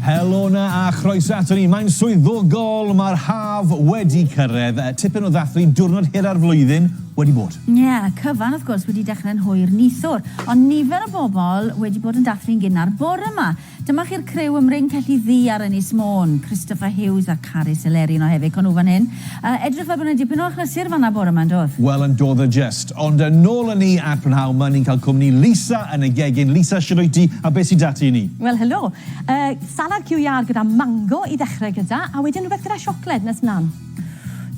Helo 'na a chroeso ato ni. Mae'n swyddogol, mae'r haf wedi cyrraedd. Tipyn o ddathlu, diwrnod hira'r flwyddyn wedi bod. Ie, yeah, cyfan wrth gwrs wedi dechrau'n hwyr neithiwr, ond nifer o bobl wedi bod yn dathlu'n gynnar bore 'ma. Dyma chi'r criw ym Mryn Celli Ddu ar Ynys Môn, Christopher Hughes a Carys Eleri yno hefyd, co nhw fan hyn. A, edrych fel bod yna dipyn o achlysur fan'na bore yma, yn dodd? Wel, yn dodd a jest. Ond yn nôl â ni at brynhawn 'ma, ni'n cael cwmni Lisa yn y gegin. Lisa, shwd wyt ti, a beth sy 'da ti i ni? Wel, helo. Yy, salad ciw iâr gyda mango i ddechrau gyda, a wedyn rhywbeth gyda siocled nes mlan.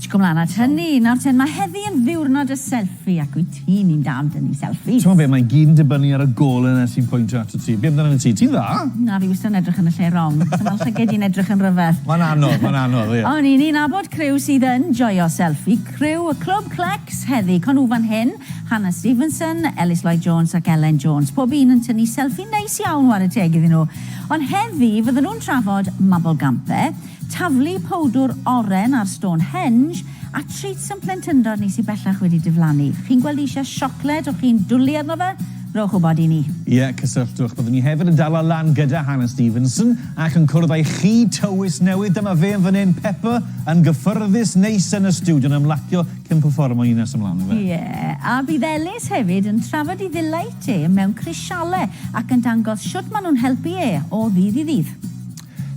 Cico mlan at hynny. Nawr ten, ma' heddi yn ddiwrnod y selfie, ac wyt? Ni'n mynd dan dynnu selfies. T'mo' be' mae'n gyd yn dibynnu ar y gole 'na sy'n pwyntio atat ti. Be' amdanat ti? Ti'n dda! Na, fi wastad yn edrych yn y lle rong. So ma' llyged i'n edrych yn ryfedd. Mae'n anodd, mae'n anodd, ie. O'n i'n un abod criw sydd yn joio selfi. Criw y Clwb Clecs heddi, Conw fan hyn, Hannah Stevenson, Elis Lloyd Jones ac Elen Jones. Pob un yn tynnu selfi neis iawn, ware teg iddyn nhw. Ond heddi, fydden nhw'n trafod Mabolgampe, taflu powdwr oren ar Stonehenge, A treats am plentyndod ni sy bellach wedi diflannu. Chi'n gweld eisiau siocled o chi'n dwli arno fe? Rhowch wybod i ni. Ie, cysylltwch. Byddwn ni hefyd yn dala lan gyda Hannah Stevenson ac yn cwrdd a'i chi tywys newydd. Dyma fe yn fan hyn, Peppa yn gyffyrddus, neis yn y stiwdio yn ymlacio cyn pefformo un nes ymlaen yfe? Ie, a bydd Elis hefyd yn trafod ei ddileit e mewn crisialau ac yn dangos shwt maen nhw'n helpu e o ddydd i ddydd.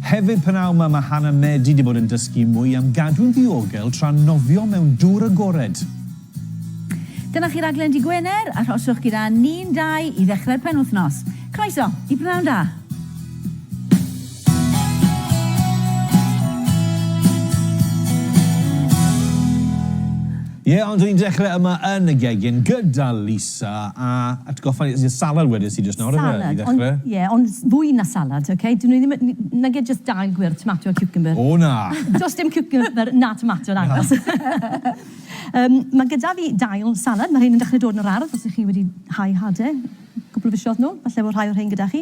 Hefyd, p'nawn 'ma mae Hannah Medi 'di bod yn dysgu mwy am gadw'n ddiogel tra'n nofio mewn dŵr agored. Dyna chi raglen Dy Gwener, arhoswch gyda ni'n dau i ddechrau'r penwythnos. Croeso i P'nawn Da! Ie, ond 'dyn ni'n dechrau yma yn y gegin gyda Lisa. Sa, a atgoffa i, y salad wedais ti jyst nawr yfe, i ddechrau? Salad, ond, ie, ond fwy na salad, ok? Dyn nhw ddim yn, nage jyst dail gwyrdd, tomato a ciwcymbyr. O na! Does dim ciwcymbyr na tomato yn agos. Yym, mae gyda fi dail salad, mae rhein yn dechrau dod yn yr ardd, os ych chi wedi hau hade, cwpl o fisoedd nôl, falle bod rhai o'r rhein gyda chi.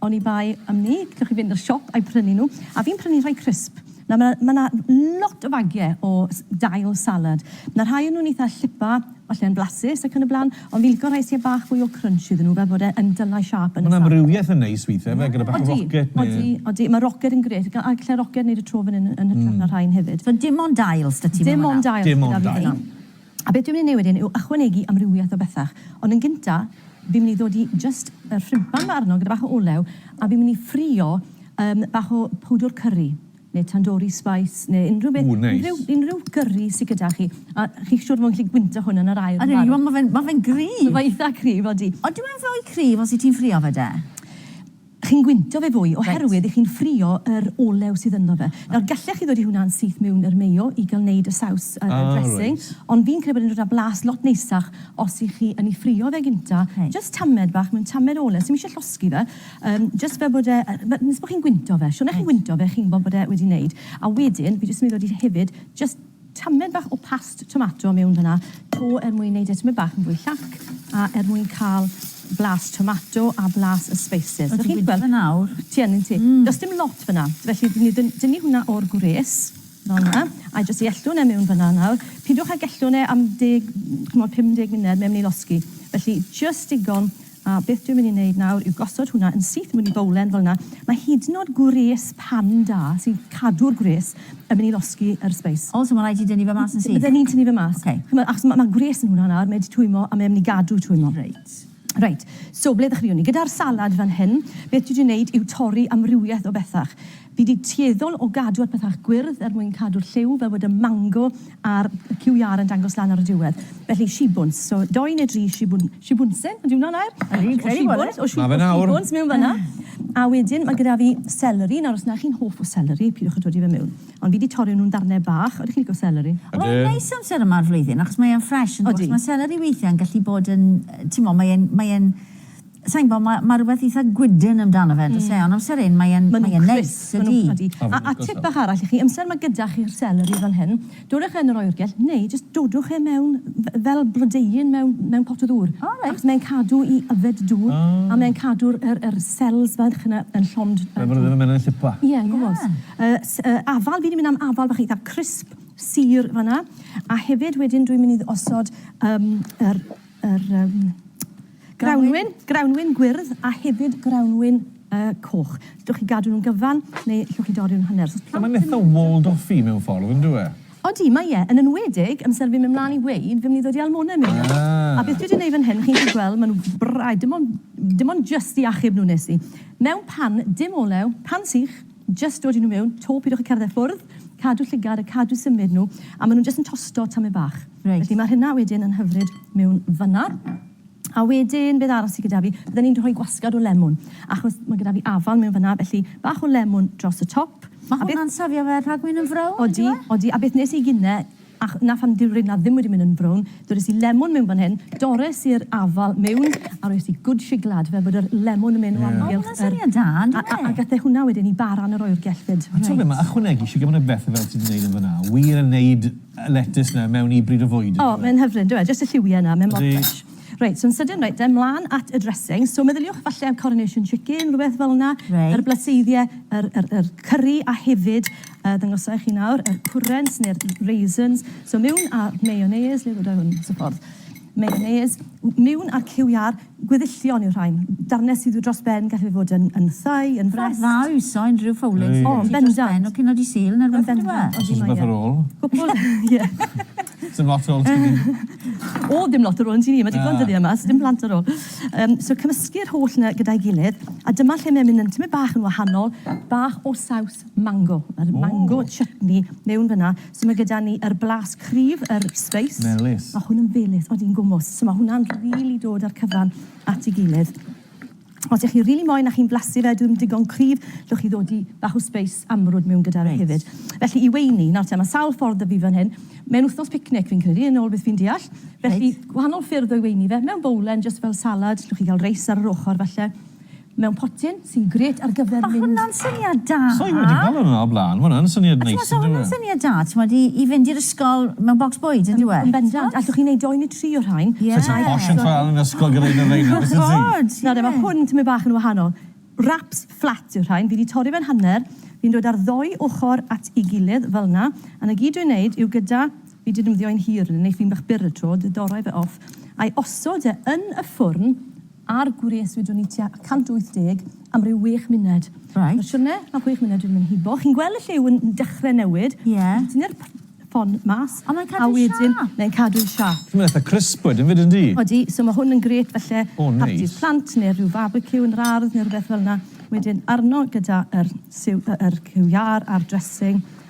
Oni bai am 'ny, gallwch chi fynd i'r siop a'u prynu nhw. A fi'n prynu rhai crisp. Nawr ma' 'na ma' 'na lot o fagie o s- dail salad. Ma' 'na rhai o nhw'n eitha llipa, falle yn blasus ac yn y bla'n, ond fi'n lico rhai sy â bach fwy o crunch iddyn nhw, fel bod e yn dylai siâp yn y salad. Ma' 'na amrywiaeth yn neis withe yfe, gyda bach o rocket ne'... Odi, odi, odi. Ma' rocket yn grêt, ga- a gallai rocket neud y tro fan 'yn yn hytrach na rhain hefyd. So dim ond dail s'da ti mewn fan'na? Dim ond dail sy 'da fi fan 'na. Dim ond dail. A beth dwi'n mynd i neu wedyn yw ychwanegu amrywiaeth o bethach. Ond yn gynta, fi'n mynd i ddodi jyst y rhuban 'ma arno gyda bach o olew, a fi'n mynd i ffrio yym bach o powdwr cyrri, neu tandoori spice, neu unrhyw beth... Ww, neis. ...unrhyw unrhyw gyrri sy gyda chi, a chi'n siŵr fod yn gallu gwyntog hwn yn yr aer yn barod. Ydw, ma' fe'n cryf! Mae fe'n eitha cryf, odi. Ond dyw e'n fwy cryf os wyt ti'n ffrio fe de? chi'n gwyntio fe fwy oherwydd i chi'n ffrio yr olew sydd ynddo fe. Nawr gallech chi ddod i hwnna'n syth miwn yr mayo i ga'l neud y saws y y dressing ond fi'n credu bod e'n dod â blas lot neisach os i chi yn i ffrio fe gynta jyst tamed bach mewn tamed olew sdim isie llosgi fe yym jyst fel bod e yy fe- nes bo chi'n gwyntio fe siwrne chi'n gwyntio fe chi'n gwbo bod e wedi neud a wedyn fi jyst myn i ddod i hefyd jyst Tamed bach o past tomato mewn fanna 'to er mwyn neud e tymed bach yn fwy llac a er mwyn ca'l blas tomato a blas y spices. O ti'n gweld? Ti'n gweld e nawr? Ti yn ynt ti? Mm. Does dim lot fanna. Felly ni dyn- dynnu hwnna o'r gwres fel 'na a jyst i ellwn e mewn fanna nawr. Pidwch ag ellwn e am deg, ch'mod, 50 munud, mae myn' i losgi. Felly jyst digon A beth dwi'n mynd i wneud nawr yw gosod hwnna yn syth mewn i bowlen fel 'na. Mae hyd yn o'd gwres pan da sy'n cadw'r gwres yn mynd i losgi yr sbeis. O, so ma' raid ti dynnu fe mas yn syth? Bydden ni'n tynnu fe mas. Ok. Ch'mo', achos ma' ma' gwres yn hwnna nawr, mae e 'di twymo a mae e myn' i gadw twymo. Reit. Reit, so ble ddechreuwn ni? Gyda'r salad fan hyn, beth dwi 'di neud yw torri amrywieth o bethach. Fi 'di tueddol o gadw ar pethach gwyrdd er mwyn cadw'r lliw fel bod y mango a'r QR yn dangos lan ar y diwedd. Felly shibwns. So dou neu dri shibwn- shibwnsen ydy hwnna nair? Fi'n credu bod e. O shibwns. Ma fe nawr. O shibwns mewn fanna. A wedyn ma' gyda fi seleri. Nawr os na chi'n hoff o seleri pidwch a dodi fe mewn. Ond fi 'di torri nhw'n ddarne bach. Odych chi'n lico seleri? Ydw. Mae'n neis amser yma o'r flwyddyn achos mae e'n ffresh yndyw e? Odi. Achos ma' seleri weithia'n gallu bod yn yy t'mo' mae e'n mae e'n Sa i'n gwbod, ma' ma' rwbeth eitha gwydn amdano fe yndos e? Ond amser hyn mae e'n mae e'n neis ydi? A a tip bach arall i chi, amser ma' gyda chi'r seleri fel hyn, dodwch e yn yr oergell neu jyst dodwch e mewn f- fel blodeuyn mewn mewn pot o ddŵr. O reit. Achos mae'n cadw i yfed dŵr. O. A mae'n cadw'r yr yr cells fach yna yn llond yy dŵr. Fel bod e ddim yn myn' yn llipa. Ie yn gwbod. Ie. Yy s- yy afal fi 'di myn' am afal bach eitha crisp, sur fan 'na. A hefyd wedyn dwi myn' i osod yym yr yr yym grawnwin, grawnwin gwyrdd a hefyd grawnwin yy coch. Gallwch chi gadw nhw'n gyfan neu allwch chi dorri nhw'n hanner. So os plant yn... Mae'n eitha walled off-y mewn ffordd, yn dyw e? Odi, mae e, yn enwedig, amser fi'n mynd mlaen i weud, fi'n mynd i ddod i Almona mewn nawr. Ah. A beth dwi 'di neud fan hyn, chi'n gallu gweld, ma' nhw braidd, dim ond, dim ond jyst i achub nhw nes i. Mewn pan, dim olew, pan sych, jyst dodi nhw mewn, 'to pidwch â cerdded ffwrdd, cadw llygad a cadw symud nhw, a ma' nhw'n jyst yn tosto tamaid bach. Reit, felly mae hynna wedyn yn hyfryd mewn fanna. A wedyn, beth arall sydd gyda fi? Bydden ni'n rhoi gwasgad o lemwn, achos mae gyda fi afal mewn fanna, felly bach o lemwn dros y top. Mae hwnna'n safio fe rhag mynd yn frown, yn dyw e? Odi, odi. A beth nes i gine, a 'na pham dyw'r reina ddim wedi mynd yn frown, dores i lemwn mewn fan hyn, dores i'r afal mewn, a roes i good shiglad, fel bod yr lemwn yn mynd o amgylch yr... O, ma' hwnna'n syniad da, yndyw e? A gath e hwnna wedyn i bara yn y roi'r gelltid. Reit. A t'mod be, ma' ychwanegu shiglad, ma' 'na bethe fel ti 'di neud yn fanna, wir yn neud letys 'na mewn i bryd o fwyd yndyw e? O, mae'n hyfryd yndyw e? Jyst y lliwie 'na, mae mor ffresh. Reit, so'n sydyn, reit de, 'mlan at y dressings. So meddyliwch falle am coronation chicken, rhywbeth fel 'na. Reit. Yr blaseidie, yr yr yr curry a hefyd, yy ddangosai i chi nawr, yr currants neu'r raisins. So miwn a'r mayonnaise, le ddwda i hwn? Mas y ffordd. Mayonnaise, w- miwn a'r cyw iâr. Gweddillion yw'r rhain. Darnau sydd dros ben, gallai fod yn thai, yn frest. Ffordd dda o iwso unrhyw fowlen sydd gen ti dros ben o cino Dydd Sul neu rhywbeth on'd yw e? Os oes rhywbeth ar ôl. Cwpwl, ie. Sdim lot ar ôl ti ni. O, ddim lot ar ôl yn ti ni, mae digon dyddiau yma, sdim plant ar ôl. So cymysgu'r holl yna gyda'i gilydd, a dyma lle mae'n mynd yn tymed bach yn wahanol, bach o saws mango. Mae'r mango chutney mewn fan'na. So mae gyda ni yr blas cryf, yr space. Melys. Mae hwn yn felys, odi yn gwmws. So mae hwnna'n rili dod â'r cyfan at ei gilydd. Os ych chi rili moyn a chi'n blasu fe, dyw e ddim digon cryf, llwch chi ddod i bach o space amrwd mewn gyda fe hefyd. Felly i weini, nawr te, mae sawl ffordd 'da fi fan hyn. Mae'n wythnos picnic fi'n credu, yn ôl beth fi'n deall. Felly gwahanol ffyrdd o weini fe, mewn bowlen, jyst fel salad, llwch chi gael reis ar yr ochr falle. mewn potyn sy'n grêt ar gyfer mynd... Ma' hwnna'n syniad da! Sa i wedi meddwl amdano o'r blaen, ma' hwnna yn syniad neis yndyw e? A t'mod, sa hwnna'n syniad da, t'mod, i i fynd i'r ysgol mewn bocs bwyd, yndyw e? Yn bendant, allwch chi neud dou neu tri o'r rhain. Ie. Sa ti'n posh yn chwarae yn yr ysgol gyda un o'r rheina, byset ti? Wrth gwrs, ie. Nawr de, ma' hwn tymed bach yn wahanol. Wraps fflat yw'r rhain, fi 'di torri fe'n hanner, fi'n dod â'r ddou ochor at ei gilydd fel 'na, a 'na gyd dwi'n neud yw gyda, fi 'di defnyddio'n hir, neith fi'n bach byr y tro, 'di dorrau fe off, a'i osod e yn y ffwrn, Ar gwres wydwn i tua 180 am ryw wech muned. Reit. Nawr siwrne ma chwech muned wedi mynd hibo. Chi'n gwel y lliw yn dechre newid. Ie. Wedyn tynnu'r p- ffon mas. A mae'n cadw siâp. A wedyn mae'n cadw siâp. Mae'n eitha crisp wedyn 'fyd yndi? Odi, so ma hwn yn grêt falle... O neis. ...parti plant neu'r ryw farbeciw yn yr ardd neu rwbeth felna. Wedyn arno gyda yr siw- yy yr cyw iâr a'r dressing.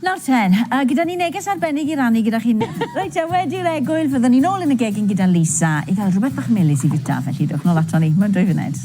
Nawr ten, a gyda ni neges arbennig i rannu gyda chi nawr. Reit te, wedi'r egwyl, fyddwn ni nôl yn y gegin gyda Lisa i gael rhywbeth bach melys i fwyta, felly dewch nôl aton ni mewn dwy funud.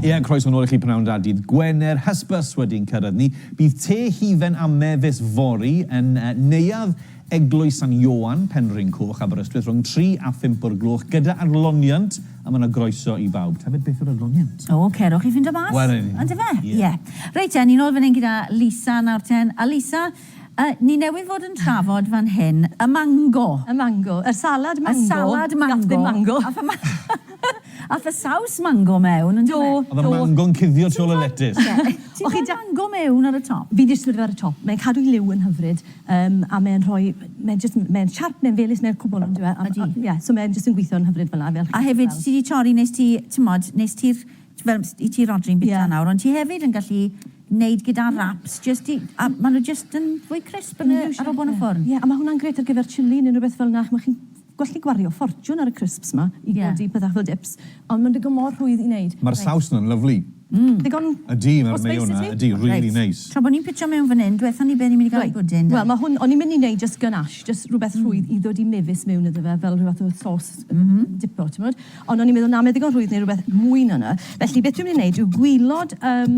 Ie, croeso nôl i chi pnawn da dydd Gwener, hysbys wedi'n cyrraedd ni. Bydd te hufen a mefus fory yn uh, neuadd Eglwys San Ioan, Penrhyn Coch, Aberystwyth, rhwng 3 a 5 o'r gloch, gyda arloniant, a mae'n groeso i bawb. Tafod beth yw'r arloniant? O, oh, cerwch i ffind o mas. Wel, yn. Ond efe? Ie. Yeah. Yeah. Reit, e, ni'n ôl fan hyn gyda Lisa nawr ten. A Lisa, Yy, ni newydd fod yn trafod fan hyn y mango! Y mango. Yr salad mango. Y salad mango. Gath ddim mango. Ath y ma- ath y saws mango mewn, on'd do fe? Do, do. O'dd y mango'n cuddio tu ôl y letys. Ti'n rhoi O'ch chi da- mango mewn ar y top? Fi'n disgwyl iddo fe ar y top. Mae'n cadw'i liw yn hyfryd, yym, a mae'n rhoi... Mae'n jyst... Mae'n siarp, mae'n felys, mae'n cwbl, on'd yw e? Ydi. Ie, so mae'n jyst yn gwitho'n hyfryd fel'a, fel chi A hefyd, ti 'di torri, nes ti, t'mod, nes ti'r Fel, i ti Rhodri'n bita nawr, ond ti hefyd yn gallu neud gyda wraps, jyst i, a ma' nhw jyst yn fwy crisp yn y, ar ôl bod yn y ffwrn. Ie, a ma' hwnna'n grêt ar gyfer chilli neu rywbeth fel 'na, ch'mo' chi'n gallu gwario ffortiwn ar y crisps 'ma i godi pethach fel dips, ond ma'n digon mor rhwydd i neud. Ma'r saws 'na'n lyfli. Mm. Digon o spice i ti? Ydi, ma'r mayo 'na, ydi, rili neis. Tra bo' ni'n pitio mewn fan 'yn, dwetha ni be' ni'n mynd i ga'l i bwdin de? Wel, ma' hwn, o'n i'n mynd i neud jyst ganache, jyst rwbeth rhwydd i ddod i mefus mewn iddo fe, fel rhyw fath o sauce dipo, t'mod? Ond o'n i'n meddwl, na, mae ddigon rhwydd neu rhywbeth mwy na 'na. Felly, beth dwi'n mynd i wneud yw gwylod yym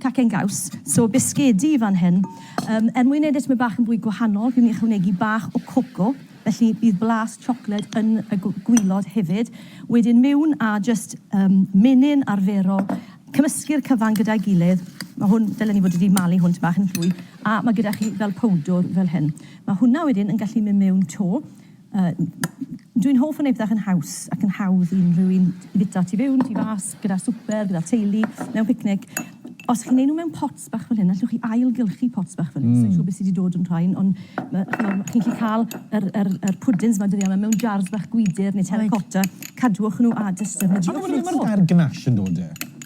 cacen gaws, so bisgedi fan hyn. Yym, er mwyn wneud e tymed bach yn fwy gwahanol, fi'n mynd i ychwanegu bach o coco, felly bydd blas siocled yn y gw- gwylod hefyd. Wedyn miwn a jyst yym menyn arferol, cymysgu'r cyfan gyda'i gilydd. Mae hwn, ddylen i fod wedi malu hwn tipyn bach yn fwy. A mae gyda chi fel powdwr fel hyn. Mae hwnna wedyn yn gallu mynd miwn 'to. Yy dwi'n hoff o neud pethe fach yn haws ac yn hawdd i unrhyw un i fita tu fewn, tu fas, gyda swper, gyda teulu, mewn picnic. Os chi'n neud nw mewn pots bach fel hyn, allwch chi ailgylchu pots bach fel hyn, sai'n siŵr be' sy 'di dod yn rhain, on' ma' ch'mod chi'n 'llu ca'l yr yr yr pwdins 'ma dyddia' 'ma mewn jars bach gwydr ne' terracotta, cadwch nw a jyst defnyddiwch nw 'to. A ma' 'na ma' 'na gair gnash yn dod 'da fe.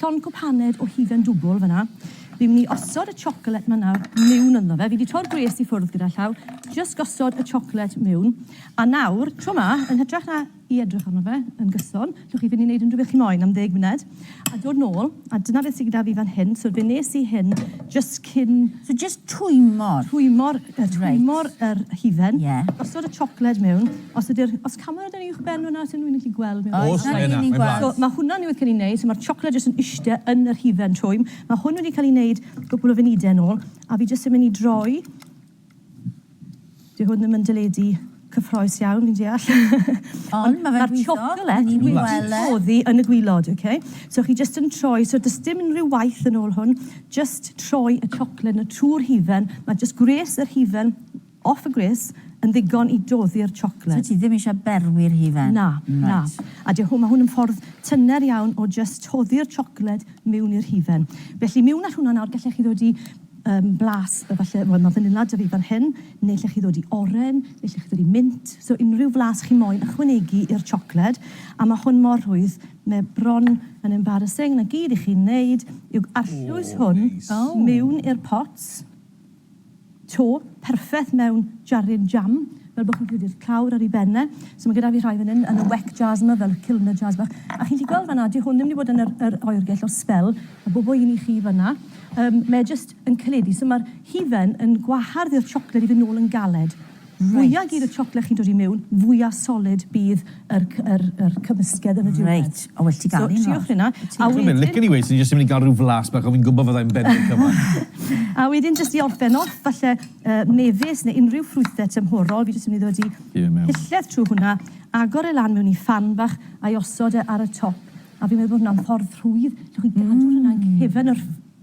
Llond cwpaned o hufen dwbwl fan'na. Fi'n mynd i osod y chocolate ma nawr miwn ynddo fe. Fi di tro'r gwres i ffwrdd gyda llaw. Jyst gosod y chocolate miwn. A nawr, tro ma, yn hytrach na i edrych arno fe yn gyson, llwch chi fynd i neud unrhyw beth chi moyn am ddeg muned, a dod nôl, a dyna beth sy gyda fi fan hyn. So fe nes i hyn jyst cyn... So jyst twymor? Twymor, twymor yr hufen. Ie. Gosod y chocolate miwn. Os ydy'r... Os cawn weld e'n uwch ben fan'na os unrhywun yn gallu gweld mi. Oes, mae yna, mae'n blas. So ma' hwnna newydd cael ei wneud, so ma'r siocled jyst yn ishte yn yr hufen twym. Ma' hwn wedi cael ei wneud gwpwl o funudau yn ôl, a fi jyst yn mynd i droi. Dyw hwn ddim yn deledu cyffroes iawn fi'n deall. Ond ma' fe'n gweithio. Ma'r siocled wedi oddi yn y gwilod, ok? So chi jyst yn troi, so does dim unrhyw waith yn ôl hwn, jyst troi y siocled 'na trwy'r hufen, ma' jyst gwres yr hufen, Off y gwres, yn ddigon i doddi'r chocolate. So ti ddim eisiau berwi'r hufen? Na, na. A dy hwn, mae hwn yn ffordd tyner iawn o jyst toddi'r chocolate miwn i'r hufen. Felly miwn â hwnna nawr, gallech chi ddod i yym blas efallai, wel mae fanila da fi fan hyn, neu allech chi ddod i oren, neu allech chi ddod i mint, so unrhyw flas chi moyn ychwanegu i'r chocolate, a mae hwn mor rhwydd, mae e bron yn embarrassing, na gyd i chi'n wneud yw arllwys hwn miwn i'r pot. to perffeth mewn jaryn jam, fel bod chi'n gallu gweld clawr ar ei ben e. So mae gyda fi rhai fan hyn yn y wek jars yma, fel cylinder jars bach. A chi'n gallu gweld fan'na, dyw hwn ddim wedi bod yn yr yr oergell o sbel, a bob o un i chi fan'na. Yym mae e jyst yn caledu, so ma'r hufen yn gwahardd i'r siocled i fynd nôl yn galed. Fwya gur y chocolate chi'n dod i miwn, fwya solid bydd yr yr yr cymysgedd yn y diwedd. Reit, o well ti ganu nawr. So triwch hynna, a wedyn... Dwi'n licen i weud, swn i jyst yn mynd i ga'l ryw flas bach, ond fi'n gwbo fyddai'n bennu cyfan. A wedyn jyst i orffen off, falle yy mefus neu unrhyw ffrwythe tymhorol, fi jyst yn mynd i ddod i pilled trw hwnna, agor e lan mewn i phan bach, a'i osod e ar y top, a fi'n meddwl bod hwnna'n ffordd rhwydd, allwch chi gadw hwnna'n cefn yr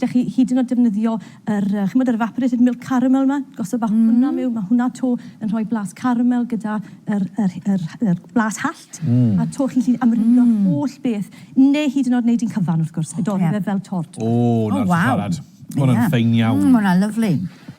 Gallech chi hyd yn oed defnyddio yr, chimod, yr evaporated milk caramel 'ma, gosod bach o hwnna miwn, ma' hwnna 'to yn rhoi blas caramel gyda yr yr yr yr blas hallt. A 'to chi'n gallu amrywio holl beth, neu hyd yn oed neud un cyfan wrth gwrs, a dorri fe fel tort. O, 'na ti siarad. Ma' hwnna'n fine iawn. Ma' hwnna'n lyfli.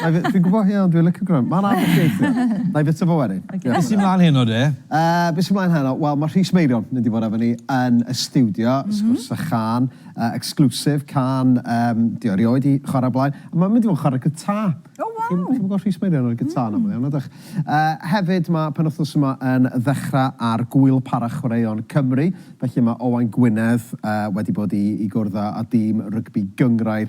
Nai fi- fi'n gwbo hynna ond dwi licio gwrando. Ma'n anodd gweithio. Nai fita fo wedyn. Oce. Be sy mlan heno de? Yy be sy mlaen heno? Wel ma' Rhys Meirion mynd i fod efo ni yn y stiwdio, sgwrs a chân, yy exclusive can yym 'di o erioed 'di chware o'r blaen. A ma'n mynd i fod yn chware gitar. O waw! Chi'm chi'm yn gweld Rhys Meirion ar y gitar yn amal iawn nadych? Yy hefyd ma' penwthnos yma yn ddechra ar Gŵyl Para Chwaraeon Cymru felly ma' Owain Gwynedd yy wedi bod i i gwrdd â â dîm rygbi gynghrair